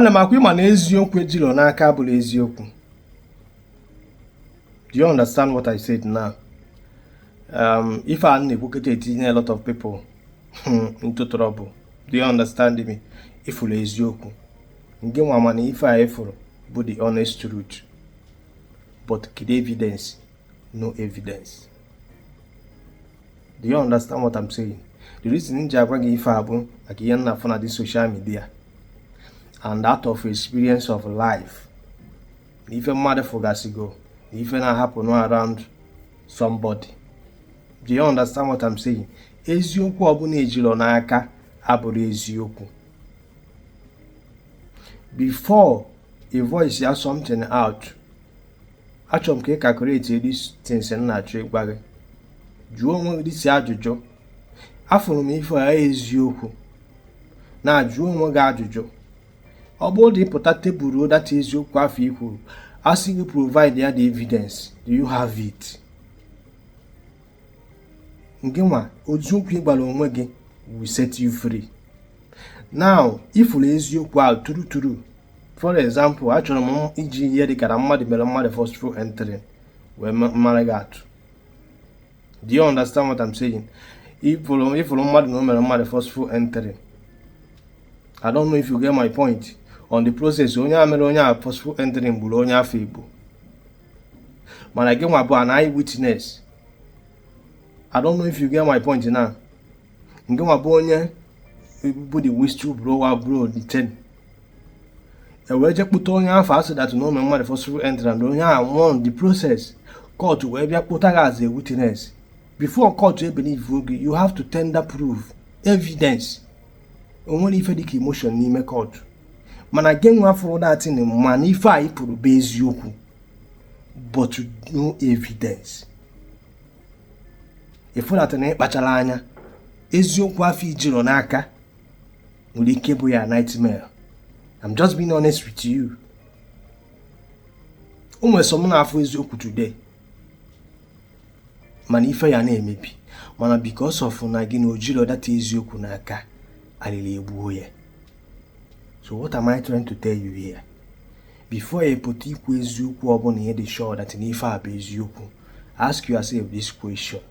ana m akwa ị ma na eziokwu ejilọ n'aka abụrọ eziokwu do you understand what I said now um, ife a m na-ekwu kịta etinye a lot of people hmm, into trouble do you understand me ị fụrụ eziokwu gị nwa ma na ife a ị fụrụ bụ the honest truth but kedu evidence no evidence do you understand what I'm saying the reason m ji agwa gị ife a bụ maka ihe m na-afụ na this social media and out of experience of life na ife mmadụ fụgasịgo na ife na-ahappen around somebody do you understand what I'm saying eziokwu ọbụla ejirọ n'aka abụrọ eziokwu before ị voice ya something out achọrọ m ka ị calculate these things m na-achọ ịgwa gị jụọ onwe gị this ajụjụ afụrụ m ife a eziokwu now jụọ onwe gị ajụjụ ọ bụrụ na ị pụta table-uo that eziokwu afụ i kwuru a sị gị provide ya the evidence do you have it gị nwa eziokwu ị gwara onwe gị will set you free now ị fụrụ eziokwu ahụ true true for example achọrọ m iji ihe dịkara mmadụ mere mmadụ forceful entry wee mara gị atụ do you understand what I'm saying ị fụrụ mmadụ na o mere mmadụ forceful entry I don't know if you get my point on the process onye a mere onye a forceful entering gburu onye afụ egbu mana gị nwa bụ an eye witness I don't know if you get my point now gị nwa bụ onye bụ the whistle blower blow the thing e wee je kpụta onye afụ sị that na o mere mmadụ forceful entry and onye a nwụọ on the process court wee bịa kpụta gị as a witness before court ebelieve gị you have to tender proof evidence o nwerọ ife dịka emotion n'ime court mana gị nwa fụrụ that thing ma na ife a ị fụrụ bụ eziokwu but no evidence ị fụna that na ị kpacharọ anya eziokwu afụ i jirọ n'aka nwere ike bụ your nightmare I'm just being honest with you o nwere some na-afụ eziokwu today ma na ife ya na-emebi mana because of na gị na o jirọ that eziokwu n'aka alịlị egbuo ya so what am I trying to tell you here before ị pụta ikwu eziokwu ọbụla ị dị sure that na ife a bụ eziokwu ask yourself this question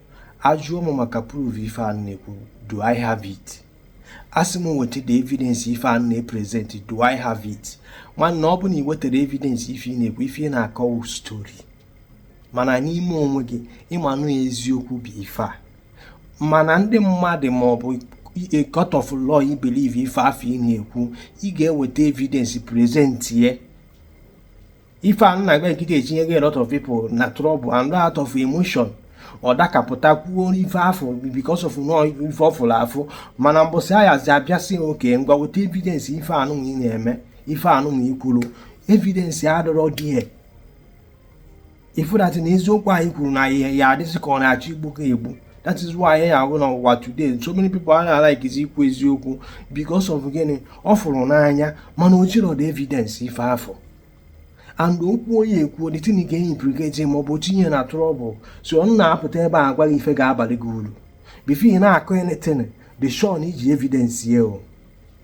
a jụọ m maka proof ife a m na-ekwu do I have it a sị m weta the evidence ife a m na-epresent do I have it nwanne ọ bụ na i wetarọ evidence ife ị na-ekwu ife ị na-akọ bụ story mana n'ime onwe gị ị manụ na eziokwu bụ ife a mana ndị mmadụ ma ọ bụ a court of law i believe ife afụ ị na-ekwu ị ga-eweta evidence present ye ife a m na-agwa gị kịta etinyego a lot of people na trouble and out of emotion ọ dakapụta kwuo ife afụ because of na ọ ife ọ fụrụ afụ mana mbọsị a yazi abịa sị okay ngwa weta evidence ife anụnwa ị na-eme ife anụnwa i kwuru evidence adịrọ there ị fụ that na eziokwu anyị kwuru na ọ ya-adịzi ka ọ na-achọ igbu gị egbu that is why ị ya-ahụ na ụwa today so many people a na-alaikizi ikwu eziokwu because of gịnị ọ fụrụ n'anya mana o jiro the evidence ife afụ and okwu ọ ya-ekwu the thing ga implicate ma ọ bụ tinye na trouble so ọ na-apụta ebe a gwa gị ife ga-abalụ gị uru before ị na-akọ anything be sure na i ji evidence ya o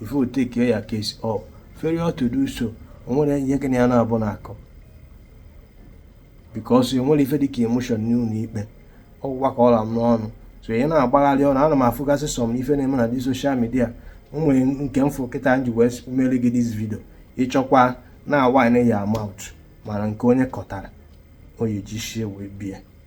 before you take your case up failure to do so o nwere ihe gị na ya na-abụ na-akọ because enwere ife dịka emotion n'ụlọ ikpe ọ gwụkwa ka ọ la m n'ọnụ so ị na-agbagharị ọnụ ana m afụgasị some ife na-eme na the social media nwere nke m fụ kịta m ji wee mere gị this video ị chọkwa na whine your mouth mana nke onye kọtara ọ ya-eji ishi e wee bie